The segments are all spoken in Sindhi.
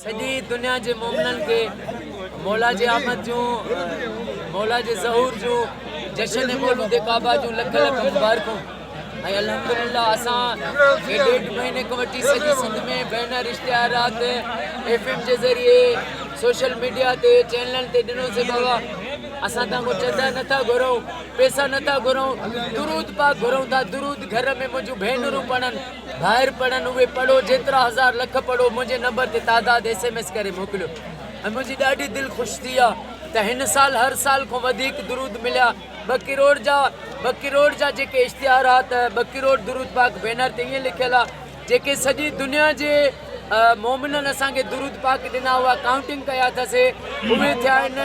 سڄي دنيا جي مومنن کي مولا جي آمد جون مولا جي ظهور جون جشن مولود ڪعبه جون لک لک مبارڪون ۽ الحمدلله اسان کي ڏيڍ مهيني کان وٺي سڄي سنڌ ۾ بينر اشتهارات ايف ايم جي ذريعي سوشل ميڊيا تي چينلن تي ڏنو سي بابا اسان تان ڪو چندا نٿا گهرون پيسا نٿا گهرون درود پاڪ گهرون ٿا درود گهر ۾ منهنجون ڀينرون پڙهن ڀائر پڙهن اهي پڙهو جيترا هزار لک پڙهو منهنجي نمبر تي تعداد ايس ايم ايس ڪري موڪليو ۽ منهنجي ڏاڍي دل خوش ٿي آ ته هن سال هر سال کون وڌيڪ درود مليا ٻه ڪروڙ جا ٻه ڪروڙ جا جيڪي اشتهار آ ته ٻه ڪروڙ درود پاڪ بينر تي ائين لکيل آ جيڪي سڄي دنيا جي مومنن اسان کي درود پاڪ ڏنا هئا ڪائونٽنگ ڪيا اٿاسي اهي ٿيا آهن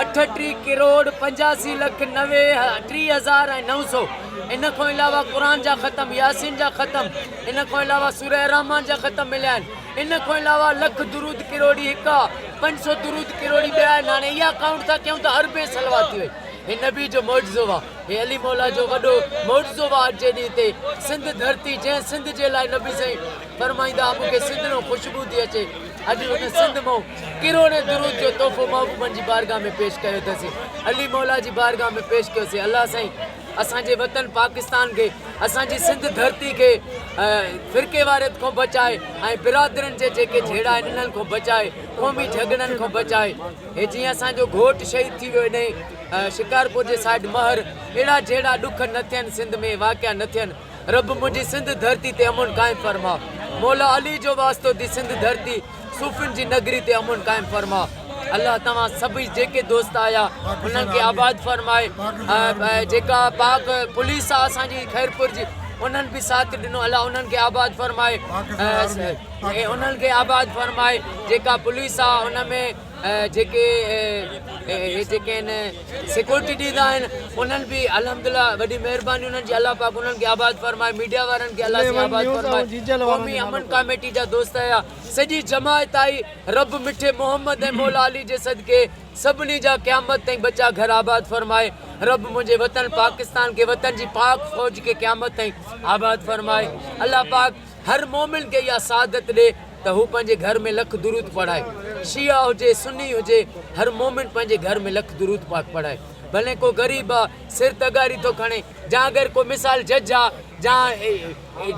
اٺٽيهه ڪروڙ پنجاسي لک نوي ٽي هزار ۽ نو سو ان کان علاوه قرآن جا ختم ياسين جا ختم ان کان علاوه سورہ الرحمان جا ختم مليا آهن ان کان علاوه لک درود ڪروڙي هڪ آهي پنج سو درود ڪروڙي ٻيا آهن هاڻي اها ڪائونٽ ٿا ڪيون ته اربين صلوات ٿي وئي هي نبي جو معجزو آهي هي علي مولا جو وڏو معجزو آهي اڄ جي ڏينهن تي سنڌ ڌرتي جنهن سنڌ جي لاء نبي سائين فرمائيندا ها مون کي سنڌ نو خوشبو ٿي اچي اڄ هن سنڌ مئو ڪروڙين درود جو تحفو محبوبن جي بارگاھ ۾ پيش ڪيو اٿسين علي مولا جي بارگاھ ۾ پيش ڪيو سين الله سائين اسان جي وطن پاڪستان کي اسان جي سنڌ ڌرتي کي فرقي واريت کون بچاء ۽ برادرن جي جيڪي جھيڙا آهن انهن کون بچاء قومي جھڳڙن کون بچاء هي جيئن اسان جو گھوٽ شهيد ٿي ويو انهي شڪارپور جي سائيڊ مهر اهڙا جھيڙا ڏک نه ٿين سنڌ ۾ واقعا نه ٿين رب منهنجي سنڌ ڌرتي تي امن قائم فرما مولا علي جو واسطو ٿي سنڌ ڌرتي صوفين جي نگري تي امن قائم فرما الله توهان سڀئي جيڪي دوست آيا انهن کي آباد فرمائي جيڪا پاڪ پوليس آ اسان جي خيرپور جي انهن به ساٿ ڏنو الله انهن کي آباد فرمائي انهن کي آباد فرمائي جيڪا پوليس آ ان ۾ جيڪي اهي جيڪي آهن سيڪورٽي ڏيندا آهن انهن به الحمدلله وڏي مهرباني انهن جي الله پاڪ انهن کي آباد فرمائي ميڊيا وارن کي الله سائين آباد فرمائي قومي امن ڪاميٽي جا دوست آيا سڄي جماعت آئي رب مٺي محمد ۽ مولا علي جي صدقي سڀني جا قيامت تائين ٻچا گهر آباد فرمائي رب منهنجي وطن پاڪستان کي وطن جي پاڪ فوج کي قيامت تائين آباد فرمائي الله پاڪ هر مومن کي اها سعادت ڏي ته هو پنهنجي گهر ۾ لک درود پڙهائي شيعا هجي سني هجي هر مومن پنهنجي گهر ۾ لک درود پاڪ پڙهائي ڀلين ڪو غريب آ سر تغاري ٿو کڻي جا اگر ڪو مثال جج آ جا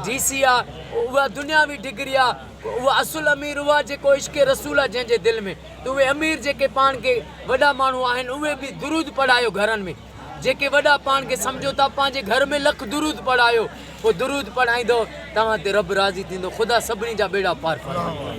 ڊي سي آ اها دنياوي ڊگري آ اهو اصل امير اهو آ جيڪو عشق رسول آ جنهن جي دل ۾ ته اهي امير جيڪي پاڻ کي وڏا ماڻهو آهن اهي به درود پڙهايو گهرن ۾ جيڪي وڏا پاڻ کي سمجهو ٿا پنهنجي گهر ۾ لک درود پڙهايو پوء درود پڙهائيندو توهان تي رب راضي ٿيندو خدا سڀني جا ٻيڙا پار فرمائي.